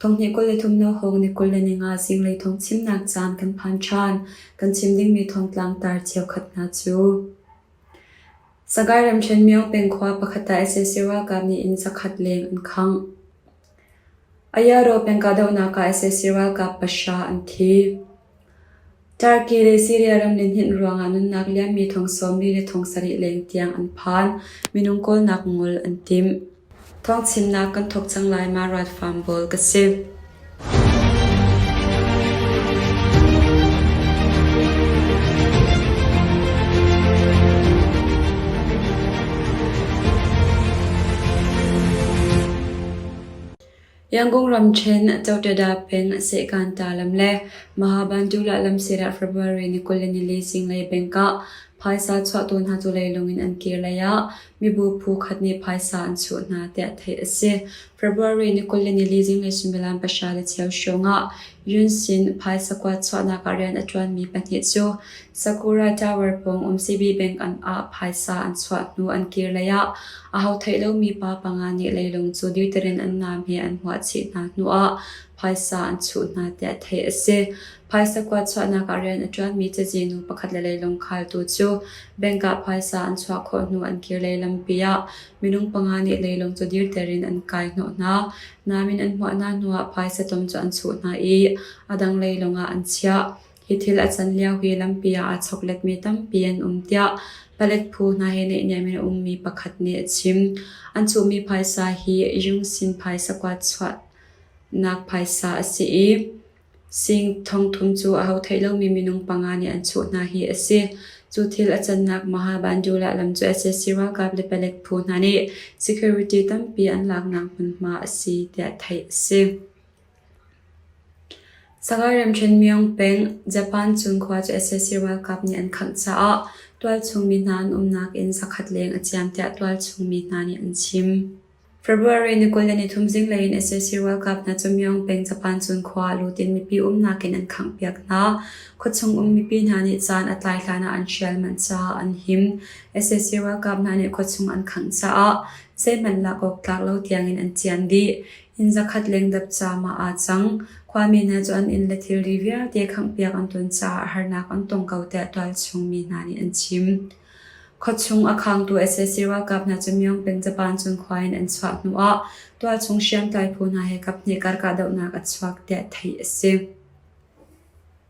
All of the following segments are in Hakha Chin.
Thonghnih kul le thumnak hawng ni kul le ni nga zinglei thong chimnak caan kan phan ṭhan. Kan chim dingmi thongtlang tar cheukhat hna cu Sagaing ramṭhen Myo pengkhua pakhat ah SSC ralkap nih inn zakhat leng an khangh. Ayaro pengkahdohnak ah SSC ralkap pahra an thi. Turkey le Syria ram lihninh ruangah nunnak liammi thong sawmli le thong sarih leng tiang an phan, minung kawlnak ngol an tim. Thong chimnak kan thawk cang lai ma Ruat Farm Bawl ka si. Yangon ramṭhen Chotoda peng Sehkanta lam le Mahabanjula lam sirah February ni kul le nili zinglei bengkah phaisa chuahtu hna culei lungin an kir leiah mibu phu khat nih phaisa an chuh hna tiah theih a si. February ni kul le nili zinglei suimilam pahra le cheu hrawngah Yun Sin phaisa kua chuahnak ah rian a ṭuanmi pahnih cu Sakura Tower pawng umsibi bank-an ah phaisa an chuah hnu an kir lei ah aho theih lomi pa panga nih leilung cu deterrent an naam he an huah chih hna hnuah phaisa an chuh hna tiah theih a si. Phaisa kua chuahnak ah rian a ṭuanmi cazinu pakhat le leilung khaltu cu bank ah phaisa an chuah khawh hnu an kir lei lampi ah minung panga nih leilung cu deterrent an kai hnawh hna. Nain an huah hna hnuah phaisa tom cu an chuh hna i a dang leilung ah an chiah. Hi thil a can lio hi lampi ah aa chokletmi tampi an um tiah palet phu hna he neihniam in a ummi pakhat nih a chim. An chuhmi phaisa hi Yungsin phaisa kuat chuahnak phaisa a si i sing thongthum cu aho thei lomi minung panga nih an chuh hna hi a si. Cu thil a cannak Mahabandhula lam cu sac ralkap le palet phu hna nih security tampi an laknak hmunhma a si tiah theih a si. Sagaing Ramṭhenmyong peng Japan chung khua cu sac ralkap nih an khangh caah tualchung mi hna an umnak inn zakhat leng a ciam tiah tualchung mi hna nih an chim. February ni kul le nithum zinglei in sac ralkap hna cu Myeong peng Japan chung khua ah lut in mipi umnak in an khanghpiak hna. Khuachung um mipi hna nih caan a tlai hlan ah an hrial manh caah an him. sac ralkap hna nih khuachung an khangh caah zeihmanh lak awk tlak lo tiang in an cian dih. Inn zakhat lengdap caam ah aa cang. Khuami hna cu an inn le thilri vialte khanghpiak an tuan caah harnak an tong ko tiah tualchung mi hna nih an chim. Khuachung a khangtu sac ralkap hna cu Myeongpeng Japan Cinkhua in an chuah hnuah tualchung hriamtlai phu hna he kaphnih kar kahdohnak a chuak tiah theih a si.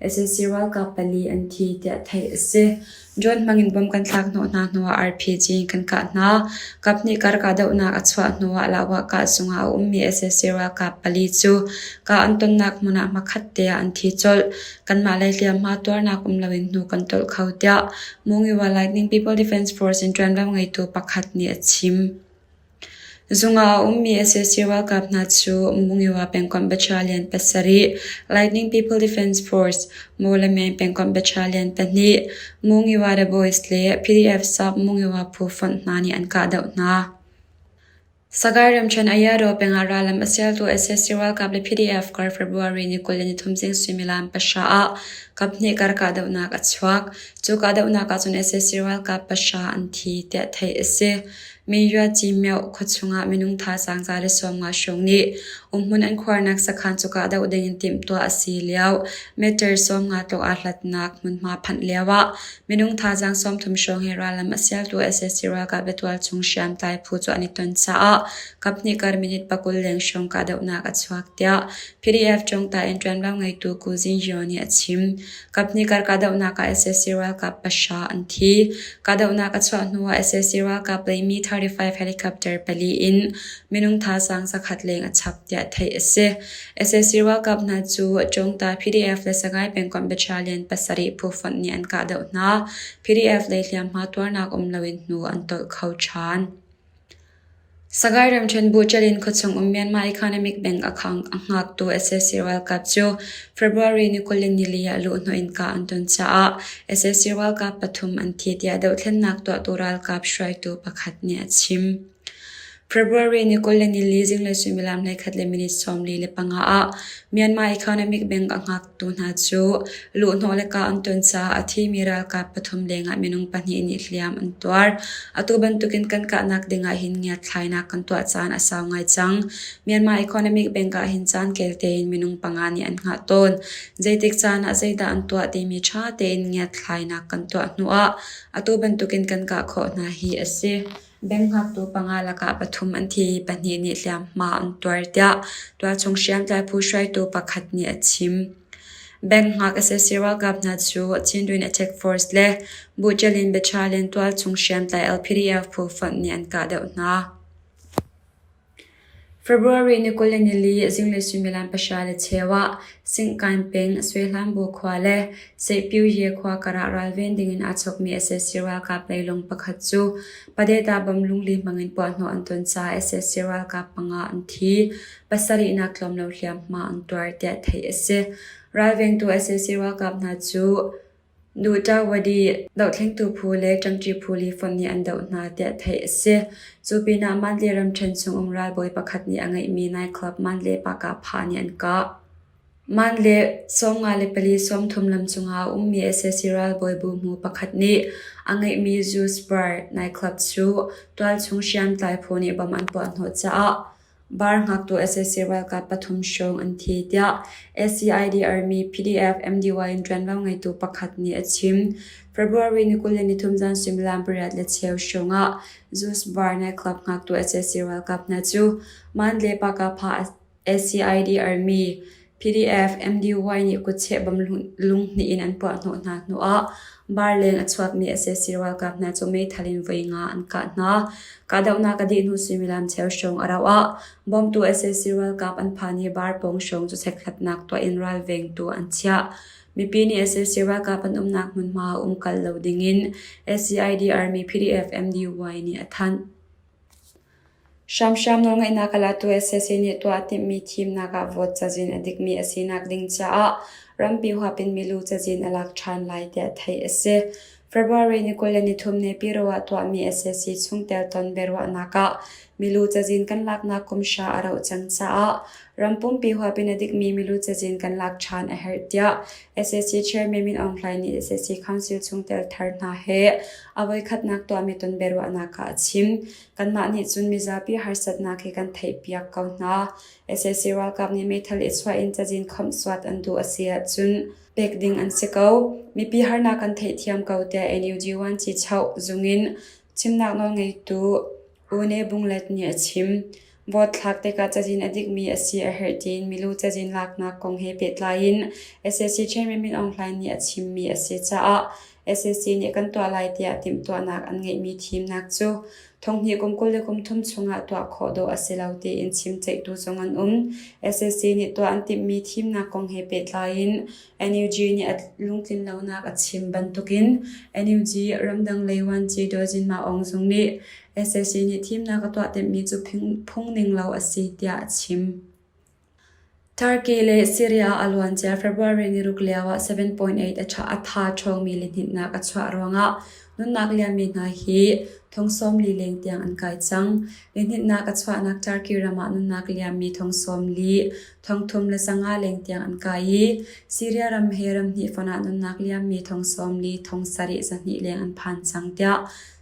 SNC ralkap pali an thi tiah theih a si. Drone hmangin bomb kan thlak hnawh hna hnuah RPG in kan kah hna. Kap nih kar kahdohnak a chuah hnuah Lahwah kah zungah a ummi SNC ralkap pali cu kah an tonnak hmun ah hmakhat teah an thi colh. Kanmah lei hliamhma tuarnak um loin hnu kan tolh kho tiah Mungyi Wildlife Lightning People Defence Force in ṭuanvo ngeitu pakhat nih a chim. Zungah a ummi sac ralkap hna cu Mungyawa pengkomh battalion pasarih, Lightning People Defence Force Mawlameng pengkomh battalion pahnih, Mungyawa The Boys le PDF Sub Mungyawa phu fonh hna nih an kahdoh hna. Sagaing ramṭhen Ayado pengah rallam a sialtu sac ralkap le PDF kar February ni kul le nithum zing suimilam pahra ah kaphnih kar kahdohnak a chuak. Cu kahdohnak ahcun sac ralkap pahra an thi, tiah theih a si. Meiyua Cimyoh khuachung ah minung thazaang za le sawmnga hrawng nih umhmun an khuarnak sakhan cuka doh ding in timhtuah a si lio meter sawmnga tlawh aa hlatnak hmunhma phanh lio ah minung thazaang sawmthum hrawng hi rallam a sialtu SSC ralkap batual chung hriamtlai phu cu an i ton caah kaphnih kar minute pakul leng hrawng kahdohnak a chuak tiah PDF ṭawngta in ṭuanvo ngeitu Ku Zin Hyo nih a chim. Kaphnih kar kahdohnak ah sac ralkap pahra an thi. Kahdohnak a chuah hnuah sac ralkap leimi 35 helicopter pali in minung thazaang zakhat leng a chap tiah theih a si. sac ralkap hna cu Chungta PDF le Sangai pengkomh battalion pasarih phufonh nih an kahdoh hna. PDF lei hliamhma tuarnak um loin hnu an tolh kho ṭhan. Sagaing ramṭhen buṭal in khuachung um Myanmar economic bank a khang a hngaktu SSC ralkap cu February ni kul in nili ah luhhnawh in kah an ton caah SSC ralkap pathum an thi tiah dohthlennak tuahtu ralkap hruaitu pakhat nih a chim. February ni kul le nili zinglei suimilam hleikhat le minute sawmli le panga ah Myanmar economic bank a hngak tu hna cu luhhnawh le kah an tuan caah a thimi ralkap pathum lengah minung pahnih nih hliam an tuar. Atu bantukin kan kahnak dingah hin ngiatthlainak kan tuah caan a sau ngai cang. Myanmar Economic Bank ah hin caan kel tein minung panga nih an hngah tawn. Zeitik caan ah zeidah an tuah timi ṭha tein ngiatthlainak kan tuah hnuah atu bantukin kan kah khawh hna hi a si. Bengngaktu panga lakah pathum an thi i pahnih nih hliamhma an tuar, tiah tualchung hriamtlai phu hruaitu pakhat nih a chim. Bengngak sac ralkap hna cu Chinduin Attack Force le Buṭalin Battalion tualchung hriamtlai LPDF phu fonh nih an kahdoh hna. February ni kul le nili zinglei suimilam pahra le cheu ah Singkain peng Suehlanbu khua le Seihpyuye khua karah ralven dingin aa chawkmi SSC ralkap leilung pakhat cu Padeta bamlung li hmangin puahhnawh an ton caah SSC ralkap panga an thi, pasarihnak tlawm lo hliamhma an tuar, tiah theih a si. Ralvengtu SSC ralkap hna cu Nu Tawadi dohthlengtu phu le ṭamṭi phu li fonh nih an doh hna tiah theih a si. Cu pinah Mantle ramṭhen chungum ralbawi pakhat nih a ngeihmi nightclub Mantle Park-ah pha nih an kah. Mantle sawmnga le pali sawmthum lam cungah a ummi sac ralbawi buhmu pakhat nih a ngeihmi Juice Bar nightclub cu tualchung hriamtlai phu nih bom an puah hnawh caah Bar ngaktu sac ralkap pathum hrawng an thi, tiah SCID army PDF MDY in ṭuanvo ngeitu pakhat nih a chim. February ni kul le nithum zan suimilam pariat le cheu hrawng ah Zeus Bar nightclub ngaktu sac ralkap hna cu Mandalay Pakapha SCID army PDF MDY nih kutcheh bam lunghnih in an puahhnawh hna hnuah Barleng a chuakmi sac ralkap hna cu meithal in voi nga an kah hna. Kahdohnak a dih hnu suimilam cheu hrawng a rauh ah bawmtu sac ralkap an phan i bar pawng hrawng cu chekkhatnak tuah in ralvengtu an chiah. Mipi nih sac ralkap an umnak hmunhma um kal lo dingin SCID Army PDF MDY nih a thanh. Hramhram nawlngeihnak a latu sac nih tuah a timhmi thimnak ah vote cazin a dikmi a sinak ding caah rampi huap in milu cazin a lak ṭhan lai tiah theih a si. February ni kul le nithum nepiru ah tuahmi sac chungtel ton biaruahnak ah milu cazin kan laknak kum hra a rauh cang caah ram pumpi huap in a dikmi milu cazin kan lak ṭhan a herh tiah sac chairman Min Aung Hlaing nih sac council chungtel thar hna he a voikhatnak tuahmi tonbiaruahnak ah a chim. Kanmah nih cun mizapi harsatnak hi kan theihpiak ko hna. sac ralkap nih meithal i chuah in cazin khawmh suat an duh a si ahcun pek ding an si ko. Mipi harnak kan theihthiam ko tiah NUG Vuanci Choh zung in chimnak nawlngeitu U Ne Bung Let nih a chim. Vote thlak tikah cazin a dikmi a si a herh tiin milu cazin laknak kong he pehtlai in sac Chairman Min Aung Hlaing nih a chimmi a si caah sac nih kan tuah lai tiah timhtuahnak an ngeihmi thimnak cu thonghnih kum kul le kum thum chungah tuah khawh dawh a si lo tiin chim ceihtu zong an um. sac nih tuah an timhmi thimnak kong he pehtlai in NUG nih a lungtlinlonak a chim bantukin NUG ramdang lei vuanci Daw Jin Maung Aung Zung nih SAC nih thimnak a tuah timhmi cu phungning lo a si tiah a chim. Turkey le Syria a luancia February niruk lioah 7.8 a tha ṭhawngmi lihnitnak a chuah ruangah nunnak liammi hna hi thong sawm li leng tiang an kai cang. Lihnitnak a chuahnak Turkey ram ah nunnak liammi thong sawm li Thongthum le sangah leng tiang an kai i Syria ram he ramhnih fon ah nunnak liammi thong sawm li thong sarih zahnih leng an phan cang, tiah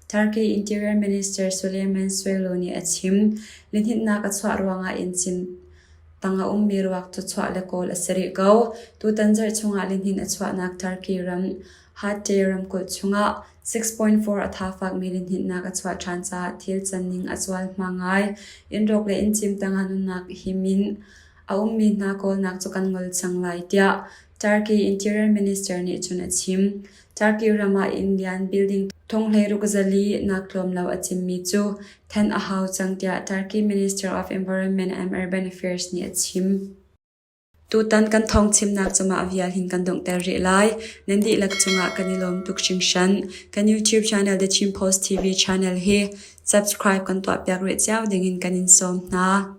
Turkey Interior Minister Suleiman Soylu nih a chim. Lihninhnak a chuah ruangah inn cin tang a ummi ruak cu chuah le kawl a si rih ko. Tutan zarh chungah lihnin a chuahnak Turkey ram Harte ramkulh chungah 6.4 a tha fakmi linhninnak a chuah ṭhan caah thil canning a cual hma ngai. Inn rawk le inn cim tangah nunnak hi min a ummi hna kawlnak cu kan ngol cang lai tiah Turkey Interior Minister nih cun a chim. Turkey ram ah inn lian building thong hlei ruk zali nak tlawm lo a cimmi cu then a hau cang tiah Turkey Minister of Environment and Urban Affairs nih a chim. Tutan kan thawngchimnak cungah vial hin kan donghter rih lai. Nan dihlak cungah kan i lawm tuk hringhran. Kan YouTube channel The Chin Post TV channel hi subscribe kan tuahpiak rih cio dingin kan in sawm hna.